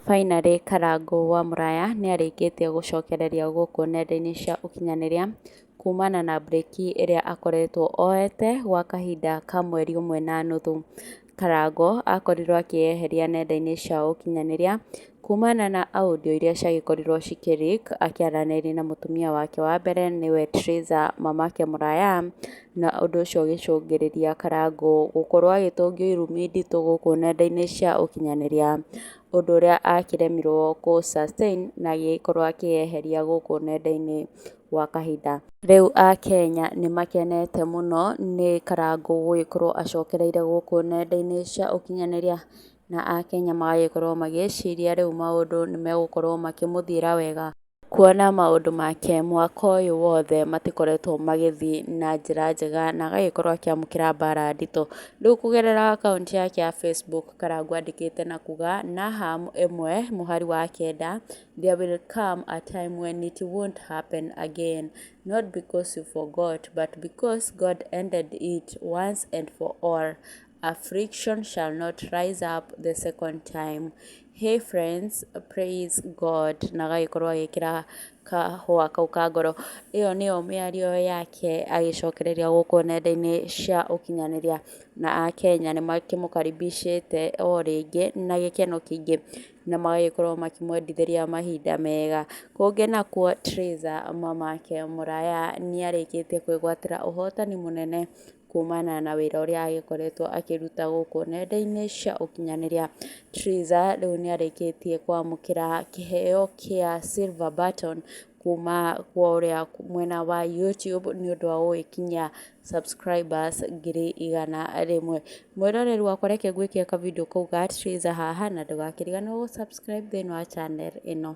Finally Karangũ wa Mũraya nĩarĩkĩtie gũcokereria gũkũ nenda-inĩ cia ũkinyanĩria kumana na brĩki ĩrĩa akoretwo oyete gwa kahinda ka mweri ũmwe na nuthu. Karangũ akorirwo akĩyeheria nenda-inĩ cia ũkinyanĩria kumana na audio iria ciagĩkorirwo cikĩ leak akĩaranĩria na mũtumia wake wa mbere nĩwe Theresa mamake Mũraya. na ũndũ ũcio ũgĩcũngĩrĩria Karangũ gũkorwo agĩtũngio irumi nditũ gũkũ nenda-inĩ cia ũkinyanĩria ũndũ ũrĩa akĩremirwo kũ sustain na agĩkorwo akĩyeheria gũkũ nenda-inĩ gwa kahinda. Rĩu Akenya nĩ makenete mũno nĩ Karangũ gũgĩkorwo acokereire gũkũ nenda-inĩ cia ũkinyanĩria na Akenya magagĩkorwo magĩciria rĩu maũndũ nĩ megũkorwo makĩmũthiĩra wega. Kuona maũndũ make mwaka ũyũ wothe matikoretwo magĩthiĩ na njĩra njega na agagĩkorwo akĩamũkĩra mbara nditũ. Rĩu kũgerera akaunti yake ya Facebook Karangũ andĩkĩte na kuga, Naham ĩmwe mũhari wa kenda, There will come a time when it won't happen again, not because you forgot but because God ended it once and for all, affliction shall not rise up the second time. Hey friends, praise God na agagĩkorwo agĩkĩra kahũa kau ka ngoro ĩyo nĩyo mĩario yake agĩcokereria gũkũ nenda-inĩ cia ũkinyanĩria na akenya nĩ makĩmũkaribicĩte o rĩngĩ na gĩkeno kĩingĩ na magagĩkorwo makĩmwendithĩria mahinda mega, kũngĩ nakuo Theresa mamake mũraya nĩ arĩkĩtie kwĩgwatĩra ũhotani mũnene kumana na wĩra ũrĩa agĩkoretwo akĩruta gũkũ nenda-inĩ cia ũkinyanĩria. Triza rĩu nĩ arĩkĩtie kwamũkĩra kĩheo kĩa silver button kuma kwa ũrĩa mwena wa YouTube nĩ ũndũ wa gũgĩkinyia subscribers ngiri igana rĩmwe. Mwĩroreri wakwa reke ngwĩkĩre ka video kau ga Triza haha na ndũgakĩriganĩrwo gũ subscribe thĩiniĩ wa channel ĩno.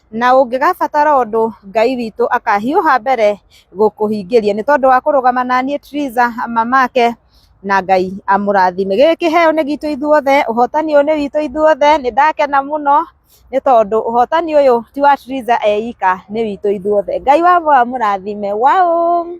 na ũngĩgabatara ũndũ Ngai witũ akahiũha mbere gũkũhingĩria nĩ tondũ wa kũrũgama na niĩ Triza mamake na Ngai amũrathime. Gĩkĩ kĩheo nĩ gitũ ithuothe, ũhotani ũyũ nĩ witũ ithuothe, nĩ ndakena mũno nĩ tondũ ũhotani ũyũ ti wa Triza eika, nĩ witũ ithuothe. Ngai wa ma amũrathime. Waũ!